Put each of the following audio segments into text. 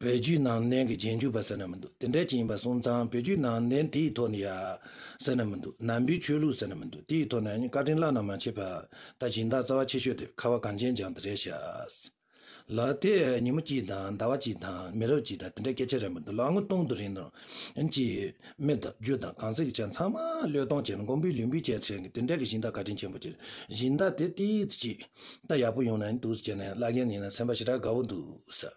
བོད་བརྒྱུད་ནང་བསྟན་གྱི་རྗེས་འཇུག་པ་ཟེར་ན་མི་འདུག་དེ་འདྲ་ཅན་ཡིན་པ་སོང་ཙང་བོད་བརྒྱུད་ནང་བསྟན་དེའི་ཐོག་ནས་ཡ། ཟེར་ན་མི་འདུག་ནང་པའི་ཆོས་ལུགས་ཟེར་ན་མི་འདུག་དེའི་ཐོག་ནས་བཀའ་དྲིན་བླ་ན་མ་མཆིས་པ། ད་གཞན་དག་རྩ་བ་ཆེ་ཤོས་དེ་ཁ་བ་གངས་ཅན་ལྗང་དེ་རེད་ཤག། ལ་དེ་ཉིན་མོ་གཅིག་དང་ཟླ་བ་གཅིག་དང་མི་རབས་གཅིག་དང་དེ་འདྲ་སྐད་ཆ་རེད་མི་འདུག་ལོ་ངོ་སྟོང་དུ་རིང་ནོ། ཅེས་མི་དང་རྒྱུ་དང་གང་ཟག་གི་ཆ་ཚང་མ་བློས་གཏོང་བྱས་ནས་མགོན་པོའི་ལུས་འབུལ་བྱས་ཚེ་དེ་འདྲ་གི་གཞན་དག་བཀའ་དྲིན་ཆེན་པོ་ཆེ། གཞན་དག་དེ་ལྟའི་ཚིག་ཅིག་ད་ཡག་པོ་ཡོང་ན་ཡིན་འདུག་ཟེར་ནས་བཀླག་མཁན་ཡིན་ན་ཚན་པ་ཞེ་དྲག་དགའ་བོ་འདུག།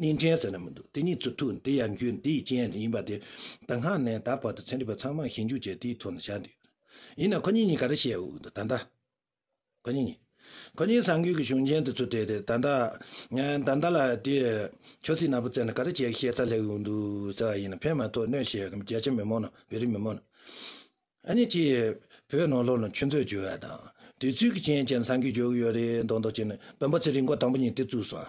གཉིས་འདྲེན་ཟེར་ན་མི་འདུག་དེ་གཉིས་ཚུར་ཐུག་དེ་ཡར་འགྱུར་དེའི་རྐྱེན་ཡིན་པ་དེ་ད་སྔ་ནས་ད་བར་དུ་ཚན་རིག་པ་ཚང་མར་ཞིབ་འཇུག་བྱས་དེའི་ཐོག་ནས་བཞག་འདུག་ཡིན་ནའང་ཁོ་གཉིས་གཉིས་ག་རེ་བྱས་འོས་འདུག་ད་ལྟ་ཁོ་གཉིས་གཉིས་ཁོ་གཉིས་ས་འགུལ་གྱི་གཞུང་ཆེན་དུ་ཚུད་དེ་དེ་ད་ལྟ་ད་ལྟ་ལ་དེ་ཆོས་ཚིག་ནག་པོ་བཙལ་ནས་ག་རེ་བྱས་ཤེས་ཚར་སླེབས་འོས་འདུག་ཟེར་བ་ཡིན་ན་ཕན་མ་ཐོགས་གནོད་བྱེད་རྒྱ་ཆེ་མི་མང་ནང་བོད་རིགས་མི་མང་ནང་ཨ་ནི་གཅིག་བོད་ནང་ལོགས་ནང་ཆོས་མཛོད་བྱོས་བ་དང་དུས་ཚོད་ཀྱི་རྐྱེན་བྱས་ནས་ས་འགུལ་བྱོས་ཀྱི་ཡོད་རེད་མདོག་མདོག་བྱས་ནས་བོན་པོ་ཚེ་རིང་མགོ་དང་པོ་ཉིད་དེ་བཙུགས་སོང།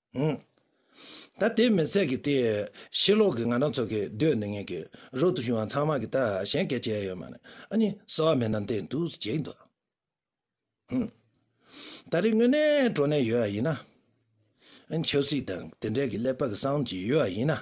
ད་དེ་མི་ཟེར་གི་དེ། ཕྱི་ལོག་གི་ང་རང་ཚོ་གི་སྡོད་ནི་ངེད་ཀྱི་རོལ་དུ་བྱུང་བ་ཚང་མ་གི་ད་གཞན་སྐད་བྱས་ཡོད་མ་རེད་ཨ་ནི་ཟེར་བ་མེད་ན་འདི་འདུག་ཟེར་གྱི་འདུག་ད་རེས་དངོས་གནས་འགྲོ་ནས་ཡོད་ཡིན་ན། ཆབ་སྲིད་དང་དེ་འབྲེལ་གྱི་ཀླད་པ་གི་གསང་ཅི་ཡོད་ཡིན་ན།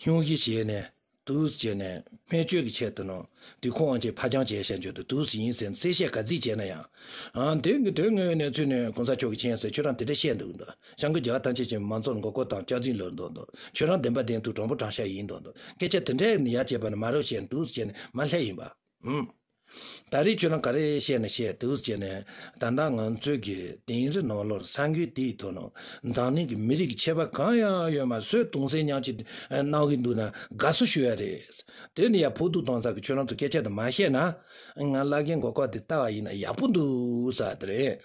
སྙུང་གཞི་བྱས་ནས་དུས་བྱས་ནས་སྨན་བཅོས་ཀྱི་ཆེད་དུ་ནང་དུས་ཁོང་ཅེས་ཕ་བྱང་བྱས་ཞེས་བརྗོད་དུ་དུས་ཡིན་ཟེར་གསལ་བཤད་ག་རྫིག་བྱས་ན་ཡང། དེ་དོན་དངོས་གནས་ཚུལ་ནི་གོང་ས་མཆོག་གི་མཆན་ཟེར་ཁྱོད་རང་དེ་འདྲ་བཤད་འདུག་བྱང་གི་རྒྱ་ཐང་ཆེ་ཆེ་མང་ཚོགས་མགོ་སྐོར་དང་སྐྱག་རྫིང་ལོས་འདུག་ཁྱོད་རང་བདེན་པ་བདེན་ཐུག་དྲང་པོ་དྲང་ཤ་ཡིན་འདུག་སྐད་ཆ་དེ་འདྲ་ཡར་བྱས་པ་ནི་མ་རོ་བྱས་ནས་དུས་བྱས་ནས་མ་སླེབས་ཡིན་པ། ཨང། ད་རེས་ཁྱོད་རང་ག་རེ་བཤད་ན་བཤད་དུས་བྱས་ནས་ད་ལྟ་ང་ཚོས་ཀྱི་དིང་རི་ནོར་ལོར་ས་འགུལ་དེའི་ཐོག་ནང་འཛམ་གླིང་གི་མི་རིགས་ཀྱི་ཆད་པ་གང་ཡང་ཡོད་མ་བཟོད་དུང་སེམས་ཉག་གཅིག་གནང་གི་འདུག་ན་དགའ་བསུ་ཞུ་ཡ་རེད། དེ་ནི་ཡ་ཕུག་ཐུག་དང་ཚ་གི་ཁྱོད་རང་ཚོ་སྐད་ཆ་དེ་མ་བཤད་ན་ང་བླ་རྒན་གོ་ཁ་དེ་ལྟ་བ་ཡིན་ན་ཡག་པོ་འདུག་ས་དེ་རེད།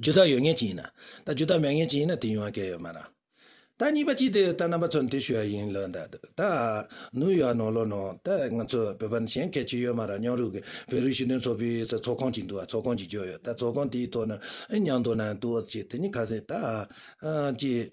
རྒྱུ་དག་ཡོད་ངེས་ཅི་ཡིན་ན། ད་རྒྱུ་དག་མེད་ངེས་ཅི་ཡིན་ན་དེ་ཡོང་བ་སྐལ་ཡོད་མ་རང། ད་གཉིས་པ་ཅི་དེ་ད་རྣམ་པ་ཚོར་འདི་ཞུ་བ་ཡིན་ལོ་ད། ད། ནུ་ཡོ་ཨ་ནོ་ལོ་ནོ་ད་ང་ཚོ་བོད་པ་གཞན་སྐད་ཅི་ཡོད་མ་རང་སྙོང་རུས་ཀྱི་བོད་རིགས་ཞུ་དོན་ཚོགས་པའི་ཚོགས་ཚོགས་ཁང་ཅིག་འདུག་ཨ་ཚོགས་ཁང་ཅིག་འཇོག་ཡོད་ད་ཚོགས་ཁང་དེའི་ཐོག་ན་ཨེ་མྱང་དོ་ན་འདུག་ཨ་ཅེ་དེ་གཉིས་ཁ་ཟས་ད། ཨ་ཅེ།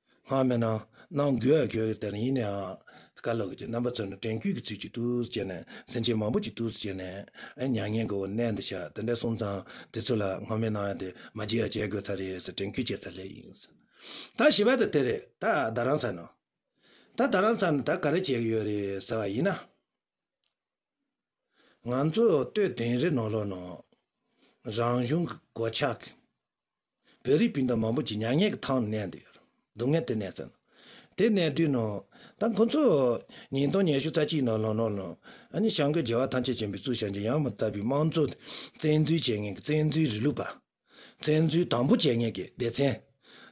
སྔགས་མེད་ན་ནང་འགྱོད་ཡ་གྱོད་དེ་རིང་ཡིན་ནའང་བཀའ་སློབ་ཀྱི་རྣམ་པ་ཚོས་ནི་དྲན་བསྐུལ་གྱི་ཚུལ་གྱིས་ཏུ་བྱས་ནས་སེམས་ཅན་མང་པོ་གཅིག་ཏུ་བྱས་ནས་མྱ་ངན་གྱི་འོད་གནས་འདི་བྱ་དེ་འདྲ་གསུངས་ཙང་དེ་ཚོ་ལ་སྔགས་མེད་ནའང་དེ་མ་བྱས་ཡ་བྱས་དགོས་ཚར་རེད་ཟེར་དྲན་བསྐུལ་བྱས་ཚར་ལེ་ཡིན། ད་ཞི་བ་ད་དེ་རེད་ད་ད་རང་ཚར་ན། ད་ད་རང་ཚར་ན་ད་ག་རེ་བྱས་ཀྱི་ཡོད་རེད་ཟེར་བ་ཡིན་ན། ང་ཚོས་ལྟོས་དེང་རི་ནོར་ལོག་ནང་རང་གཞུང་གི་གོ་ཆག་གི། བོད་རིགས་སྤུན་ཟླ་མང་པོ་ཅིག་མྱ་ངན་གྱི་ཐང་ནས་གནས་འདུག་སྡུག་བསྔལ་དུ་གནས་ཚར། དེ་གནས་དུས་ནང་ད་ཁོ་ཚོ། ཉིན་སྟོང་ཉི་ཤུ་རྩ་གཅིག་ནང་ལོག་ནོར་ལོང། ཨཱ་ཞང་ཀོས་རྒྱལ་བ་ཐམས་ཅད་བྱམས་པའི་གཙུག་བྱང་ཆེན་ཡང་མི་དག་པའི་དམངས་གཙོ། བཙན་འཛུལ་བྱས་ངན་གྱི་བཙན་འཛུལ་རི་ལུག་པ། བཙན་འཛུལ་དང་པོ་བྱས་ངན་གྱི་སྡེ་ཚན།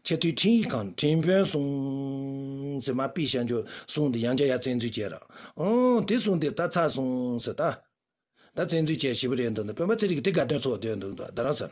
ཆེས་མཐོའི་འཕྲིན་ཡིག་ཁང་འཕྲིན་དཔོན་གསུངས། ཟེར་མ་པི་ཤ་འཇོ་གསུངས་འདི་ཡང་རྒྱ་ཡ་བཙན་འཛུལ་བྱས་ར། ཨང། དེ་གསུངས་དེ་ད་ཚ་གསུངས། ད་བཙན་འཛུལ་བྱས་ཞེས་པ་རེད་འདུག་ད་དཔོན་པ་ཚེ་རིང་གི་དེ་དགའ་སྟོན་ཚོགས་བསྡོད་འདུག་ད་རང་ས།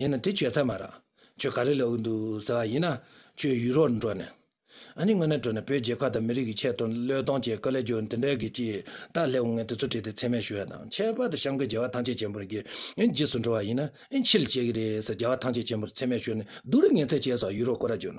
ཡིན་ན་དེ་བྱོས་ཐབས་མ་རག་ཁྱོད་ག་རེ་ལས་འོས་འདུག་ཟེར་བ་ཡིན་ན་ཁྱོད་ཡུ་རོར་འགྲོ་ནས་ཨ་ནི་དངོས་གནས་བྲོས་ནས་བོད་རྒྱལ་ཁབ་དང་མི་རིགས་ཀྱི་ཆེད་དུ་བློས་གཏོང་བྱེད་དཀའ་ལས་འགྱུར་འདི་འདྲའི་གི་ཅི་ལྟར་སླེབས་ངས་དེ་ཚོ་བྲིས་ཏེ་ཚད་མས་ཞུ་བ་དང་ཁྱད་པར་དུ་གཤམ་གྱི་རྒྱལ་བ་ཐང་ཆེ་ཆེན་པོར་གི་རྗེས་སུ་འགྲོ་བ་ཡིན་ན་ཨེ་འཆི་ལ་བྱེད་ཀྱི་རེད་ཟེར་རྒྱལ་བ་ཐང་ཆེ་ཆེན་པོར་ཚད་མས་ཞུ་ནས་སྡུག་རུས་ངན་ཚད་བཅས་སོགས་ཡུ་རོ་ཀོ་ར་བྱོས་ན་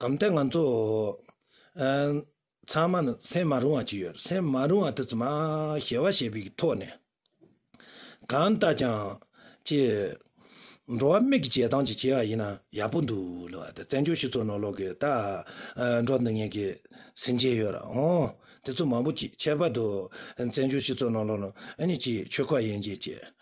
གང་ལྟར་ང་ཚོ་ཚང་མ་ནི་སེམས་མ་རུང་བ་ཅིག་ཡོད། སེམས་མ་རུང་བ་དེ་ཚོ་མ་ཞི་བ་ཞེས་པའི་ཐོག་ནས། གང་ལྟར་ཀྱང་ཅེས། འགྲོ་བ་མིག་གི་བྱེད་སྟངས་ཅིག་བྱས་པ་ཡིན་ན་ཡག་པོ་འདུག་ལབ་བ་དེ་བཙན་བྱོལ་སྤྱི་ཚོགས་ནང་ལོག་གི་ད་འགྲོ་འདི་ངན་གི་ཟིན་བྱེད་ཡོད་རང་ཨང། དེ་ཚོ་མང་པོ་ཅིག་ཁྱད་པར་དུ་བཙན་བྱོལ་སྤྱི་ཚོགས་ནང་ལོག་ནང་ཨ་ནི་ཅིག་ཆོལ་ཁ་ཡན་ཆད་ཅིག་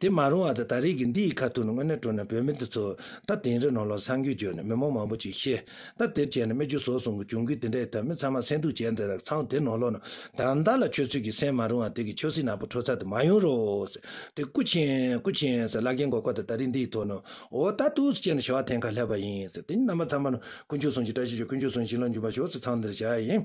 དེ་མ་རུང་བ་དང་ད་རེས་ཀྱི་འདི་ཡི་ཁ་ཐུག་ནི་དངོས་གནས་སྤྲོ་ན་བོད་མི་འདི་ཚོ་ད་དེང་རི་ནོར་ལོག་སངས་རྒྱུད་བརྗོད་ནས་མི་མོ་མང་པོ་ཅིག་ཤེས་ད་དེར་བྱས་ན་སྨད་རྒྱུད་བཟོ་སོང་གི་གྱོང་གུད་དེ་འདྲ་ཡི་ཐབས་མི་ཚང་མ་སེང་སྡུག་བྱས་འདི་ལ་ཚང་དེ་ནོར་ལོག་ན་ད་ཟླ་ལ་ཁྱོད་ཚོས་ཀྱི་སེང་མ་རུང་བ་དེ་གི་ཆོས་སྲིད་ནག་པོ་འཕྲོ་ཚ་དེ་མ་ཡོང་རོགས་དེ་སྐུ་ཆེན་སྐུ་ཆེན་ཟེར་བླ་རྒན་གོ་ཁོ་དང་ད་རེས་འདི་ཡི་ཐོག་ནོའོ་ད་ཐུགས་སུ་བཅད་ནས་བྱ་བ་ཐེངས་ཁ་སླེབས་པ་ཡིན་དེ་ཉིད་རྣམ་པ་ཚང་མ་ནོར་ཀུན་ཆོས་སྲུང་ཞིང་བཀྲ་ཤིས་ཆོས་ཀུན་ཆོས་སྲུང་ཞིང་ལ་འཇུག་པ་ཞོག་ཚེ་ཚང་འདིར་བྱ་ཡིན།